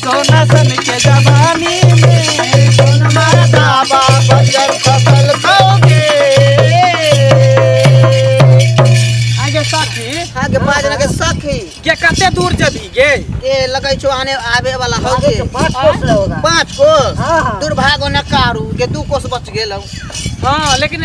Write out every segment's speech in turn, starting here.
सोना सन के जवानी में कौन मरदा बा बजर फसल खाओगे आगे साथी आगे बाज लगे सखी के कते दूर जबी गे ये लगे छो आने आवे वाला हो गे पाँच कोस ले होगा पाँच कोस हाँ, हाँ। दुर्भाग्य न कारू के दू कोस बच गेल हूँ। हाँ लेकिन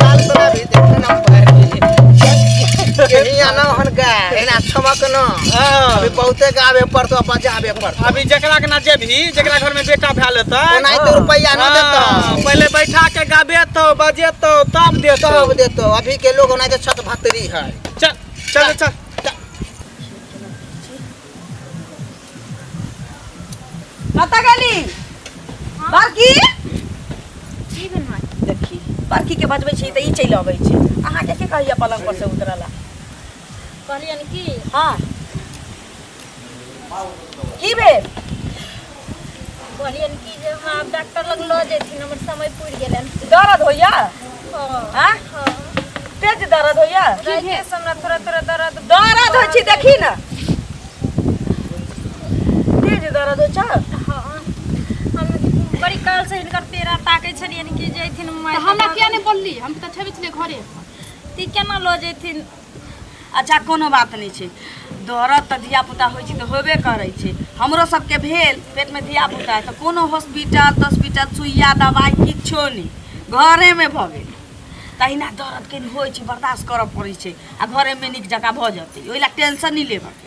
चाल बना भी देखो ना पैर यही आना हन का एना छमक न हाँ। अभी बहुते गावे पर तो बजावे पर अभी जकरा के ना जेबही जकरा घर में बेटा भैल हेतै ओनाही तो रुपैया न हाँ, देतो पहिले बैठा के गाबेतौ बजेतौ तब देतौ सब देतो अभी के लोग ओनाही तो छत भतरी है चल चल चल कतऽ गेली बड़की की भेल माँ देखी बड़की के बजबै छी तऽ ई चलि अबै छै अहाँके के कहैया पलंग पर से उतरऽ ला कहलियन की हाँ की भेल कहलियन कि जे हमरा आब डॉक्टर लग लऽ जेथिन हमर समय पुरि गेलैन दर्द होइया हँ आ हँ तेज दर्द होइया राइते से हमरा थोड़ा थोड़ा दर्द दर्द होइ छै देखी ने तेज दर्द होइ छै हँ हम बड़ी काल से हिनकर पेड़ा ताकै छलियन कि जैथिन माय हमरा किया नहि बोलली हम तऽ छेबे छलियै घरे ती केना लऽ जेथिन अच्छा कोनो बात नहि छै दौड़त तऽ धियापुता होइ छै तऽ होबे करै छै हमरो सबके भेल पेटमे धियापुता तऽ कोनो हॉस्पिटल तॉस्पिटल सुइया दबाइ किछो नहि घरेमे भऽ गेल तहिना दौड़त कनि होइ छै बर्दाश्त करऽ पड़ै छै आ घरेमे नीक जकाँ भऽ जेतै ओहि लए टेंशन नहि लेबऽके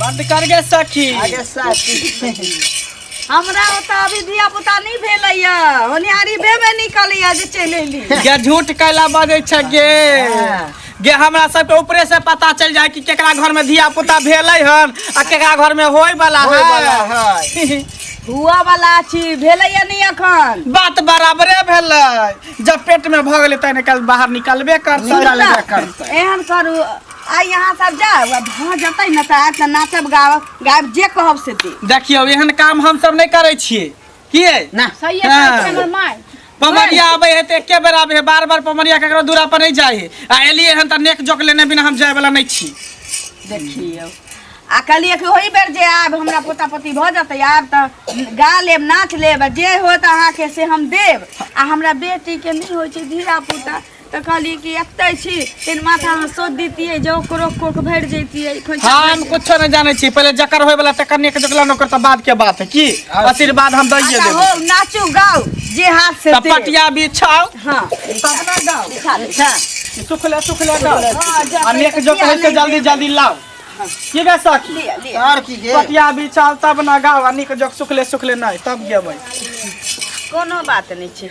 बंद कर गे सखी आगे साथी हमरा ओतऽ अभी धिया पुता नहि भेलैया होनिहारी भेबे निकलैया जे चलि एली गे झूठ कैला बजै छै गे गे हमरा सबके ऊपरे से पता चल जाए कि केकरा घर में धिया पुता भेलै हन आ केकरा घर में होय वाला होय वाला है हुआ वाला छी भेलै या नहीं अखन बात बराबरे भेलै जब पेट में भऽ गेलै तहन कल बाहर निकलबे करतै निकलबे करतै। एहन करू आ यहाँ सब जाओ आ भऽ जेतै ने तऽ आज तऽ नाचब गाब गायब जे कहब से दे देखियौ एहन काम हम सब नहि करै छियै की है ना सही है हाँ। कहै छै हमर माय पमरिया आबे है तो एके बेर आबे है बार बार पमरिया ककरो दूरा पर नहीं जाए है आ एलिए हन त नेक जोक लेने बिना हम जाए वाला नहीं छी देखियौ आ कहलियै कि ओहि बेर जे आयब हमरा पोता पोती भऽ जेतै आयब तऽ गा लेब नाच लेब आ जे होत अहाँके से हम देब आ हमरा बेटीके नहि होइ छै धीरा पुता तऽ कहलियै कि एतै छी तेन माथा अहाँ सोध दितियै जे ओकरो कोक भरि जैतियै खोइछा हम भरि कुछ नहीं जाने छी पहले जकर होय वाला तकर नेक जकला नौकर तऽ बाद के बात है की आशीर्वाद हम दैये जैतियै। अच्छा देबो हो नाचू गाउ जे हाथ से तऽ दे। पटिया बिछाओ हाँ तबना गाओ बिछा ले जा। सुखले सुखले गाओ हाँ, जा, आ नेक जो कहे से जल्दी जल्दी लाओ की गे सखी लिया, लिया। और की गे पटिया बिछाओ तब ना गाओ आ निक जो सुखले सुखले नहीं तब गेबै कोनो बात नहीं छै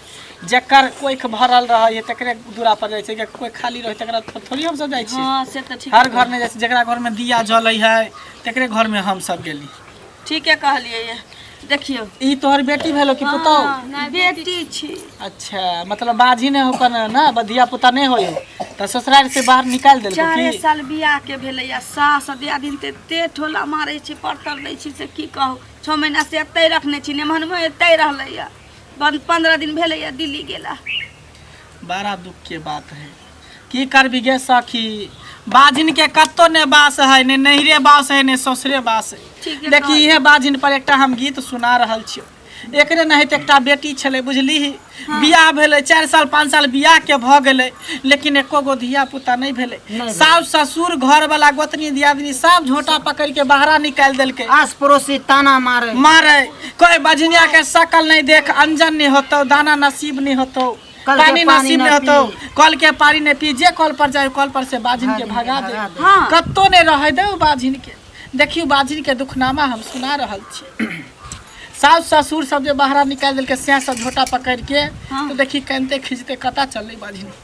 जकर कोइख भरल रहै है तकरे दूरा पर जाइ छै जकर कोइ खाली रहै तकरा पर थोड़ी हम सब जाइ छी हाँ से तो ठीक हर घर में जाइ छी जकरा घर में दिया जलै है तकरे घर में हम सब गेली ठीके कहलियै ये। देखियौ ई तोहर बेटी भेलो कि पुतौ हाँ, बेटी छी अच्छा मतलब बाजी ने हो कने ना बधिया पुता नहीं होयो त ससुराल से बाहर निकाल देलको चारे की साल बियाह के भेलैया सास दिया दिन ते ते ठोला मारै छी परतर दै छी से की कहू छओ महीना से एतै रखने छी नेमहनमे एतै रहलैया बन पंद्रह दिन भेले या दिल्ली गेला बड़ा दुख के बात है की करबी गे सखी बाजिन के कत्तो ने बास है ने नैहरे बास है ने ससुरे बास ठीक है है देखी इहे बाजिन पर एकटा हम गीत सुना रहल छियो एकरे नहीं तो एकटा बेटी छले बुझली बियाह भेले चार साल पाँच साल बियाह के भ गेले लेकिन एको गो धिया पुता नहीं भेले सास ससुर घर वाला गोतनी दियादनी सब झोटा पकड़ के बाहरा निकाल देलके आस पड़ोसी ताना मारे मारे कोई बजनिया के शकल नहीं देख अंजन नहीं होतो दाना नसीब नहीं होतो कल के पानी पानी नसीब ना नहीं होतो पी। कल के पानी नहीं पी जे कल पर जाए कल पर से बाजिन के भगा दे हाँ। कत्तो नहीं रहे दे उ बाजिन के देखियो बाजिन के दुखनामा हम सुना रहल छी सास ससुर सब जे बाहर निकाल दिल के सैं सब झोटा पकड़ के हाँ। तो देखी कनते खींचते कता चल रही बाजिन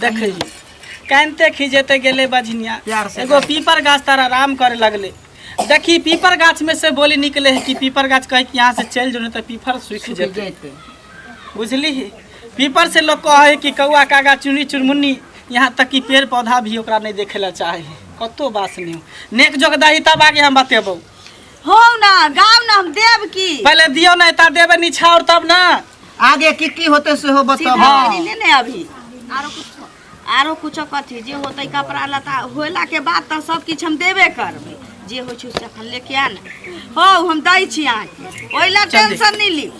देखै कानिते खिजेते गेले बझनिया प्यार से एगो पीपर गाछ तारा आराम करे लगले देखी पीपर गाछ में से बोली निकले है कि पीपर गाछ कहे कि यहाँ से चल जो नहीं तो पीपर सूखि जेते जैते बुझली पीपर से लोग कहे है कि कौआ कागा चुनी चुनमुन्नी यहाँ तक कि पेड़ पौधा भी ओकरा नहीं देखे ला चाहे है कतो बास नहीं हो। नेक जोग दही तब आगे हम बतेबो हो ना गाँव ना हम देव की पहले दियो ना इतना देवे निछावर तब ना आगे की की होते से हो बताओ हाँ। सीधी ले ने अभी आरो कुछ आरो कुछ कथी जे होते कपड़ा लता होला के बाद तो सब किछ हम देबे करबे जे होइ छै से अपन लेके आ ने हो हम दै छी अहाँके ओहि लए टेंशन नहि ली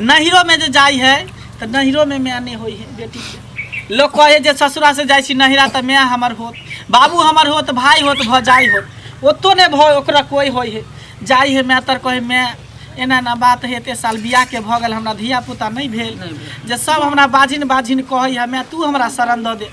नहिरोमे जे जाइ है तऽ नहिरोमे माय नहि होइ है बेटीके लोक कहै जे ससुरासँ जाइ छी नहिरा तऽ माय हमर होत बाबू हमर होत भाय होत भौजाइ होत ओतो नहि भऽ ओकरा कोइ होइ है जाइ है माय तर कहै माय एना एना बात है एते साल बियाहके भऽ गेल हमरा धियापुता नहि भेल जे सब हमरा बाझिन बाझिन कहै है माय तू हमरा शरण दऽ दे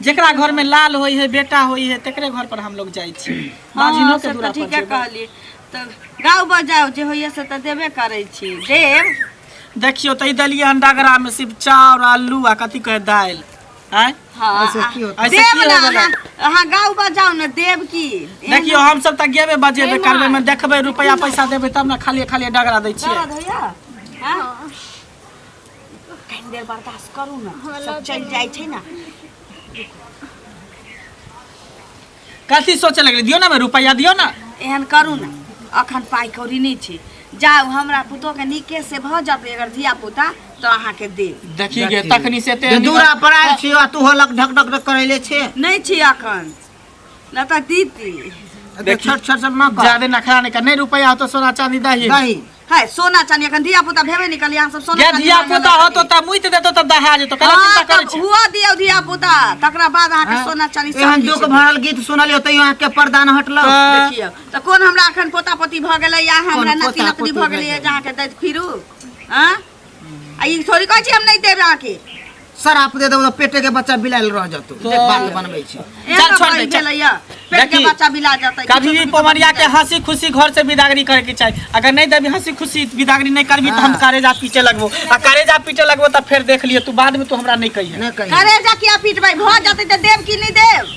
जेकरा घर में लाल होई है बेटा होई है तेकरे घर पर हम लोग जाई छी बाजिनो हाँ, के से दूरा तऽ पर ठीके जेबै। कहली तऽ गाँव बजाउ जे होइए से तऽ देबे करै छी देब देखियो तऽ ई देलियै हन डगरा में सिर्फ चाउर आलू आ कथी कहे दालि आय हाँ ऐसे आ- की होता? ऐसे देब की ने होबे अहाँ अहाँ गाँव बजाउ ने देब की एहन देखियो हम सब तऽ गेबे बजेबे करबे में देखबै रुपया पैसा देबै तब ने खाली खाली डगरा दै छियै दर्द होइए हाँ? कनि देर बर्दाश्त करू ने हमरा सब लऽ चलि चलू। जाइ छै ने कथी सोचे लगले दियो ना बे रुपया दियो ना एहन करू ने अखन पाइ कौड़ी नहि छै जाउ हमरा पुतोहके नीके से भऽ जेतै अगर धिया पुता तऽ अहाँके देब देखी गे तखनी से ते दूरा पर आयल छियो आ तू होलक ढक ढक ढक करैले छे नहि छी अखन ना तो दीदी अरे छट छट सब ना कर ज्यादा नखरा नहीं कर नहीं रुपया हो तो सोना चांदी दही दही है सोना चांदी अखन धिया पुता भेबे निकल यहाँ सब सोना या चांदी धिया मांगे पुता हो लगल। तो तब मुइत देतो तब दहा जेतो कला हाँ, चिंता करे तब छी हुआ दियो धिया पुता तकरा बाद अहाँ के हाँ। सोना चांदी सब एहन किछु। दुख भरल गीत सुनल होते यहाँ के परदान हटल हाँ। देखियौ तऽ कोन हमरा अखन पोता पोती भऽ गेलै या हमरा कोन नाति पोता नातनी पोती भऽ भऽ गेलै गेलै? जे अहाँके दैत फिरू आँ आ ई थोड़ी कहै छी हम नहि देब अहाँके शराप दे देबो तऽ पेटे के बच्चा बिलायल रह जतो देख बात बनबै छी एहन चल, छोड़ दे, बात चल। भेलैया पेट के देखी, बच्चा बिला जेतै कभी भी पवरिया के हंसी खुशी घर से विदागरी करे के चाहिए अगर नहीं देबी हंसी खुशी विदागरी नहीं करबी तो हम हाँ। कारेजा पीटे लगबो आ कारेजा पीटे लगबो तो फिर देख लियो तू बाद में तू हमरा नहीं कहिए नहि कही करे जा किया पीटबै भऽ जेतै तऽ देब कि नहि देब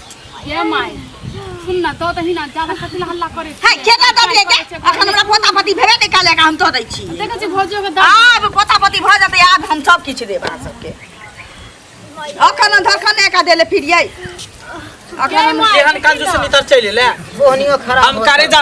ये माय सुन ना दो दही ना ज्यादा कथि हल्ला करे छै के दा दब ले के अखन हमरा पोता पति भेबे नै काले का हम दऽ दै छी देखै छी भौजियो के आब पोता पति भ जतै आब हम सब किछ देब अहाँ सबके अखन धरखने का देले फिरियै अखन हम एहन काज सुनितर चलि ले ओहनियो खराब हम करे जा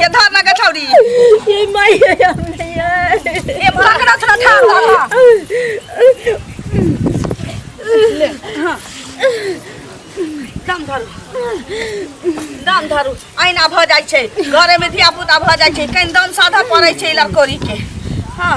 ये धर ना के छौरी ये माय हमने ये ये पकड़ा थोड़ा ठाड़ धर दम धरू दम धरू अहिना भऽ जाइ छै घरेमे धियापुता भऽ जाइ छै कनि दम साधा पड़ै छै लड़कोरीके हँ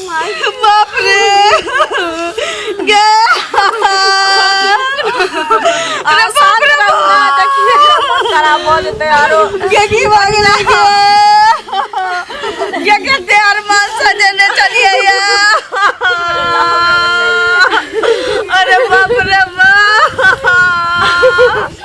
बाप रे गे अरे बाप रे खराब हो जेतै आरो गे की भऽ गेलै गे गे कते अरमान सजेने चलिए या अरे बाप रे बाप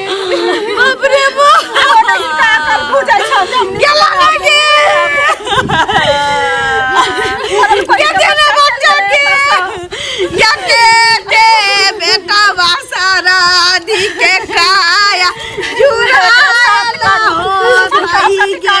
बाप रे बो गेला ना के के देना बच्चा के या के दे बेटा वासारा दी के काया जुरा ला हो भाई के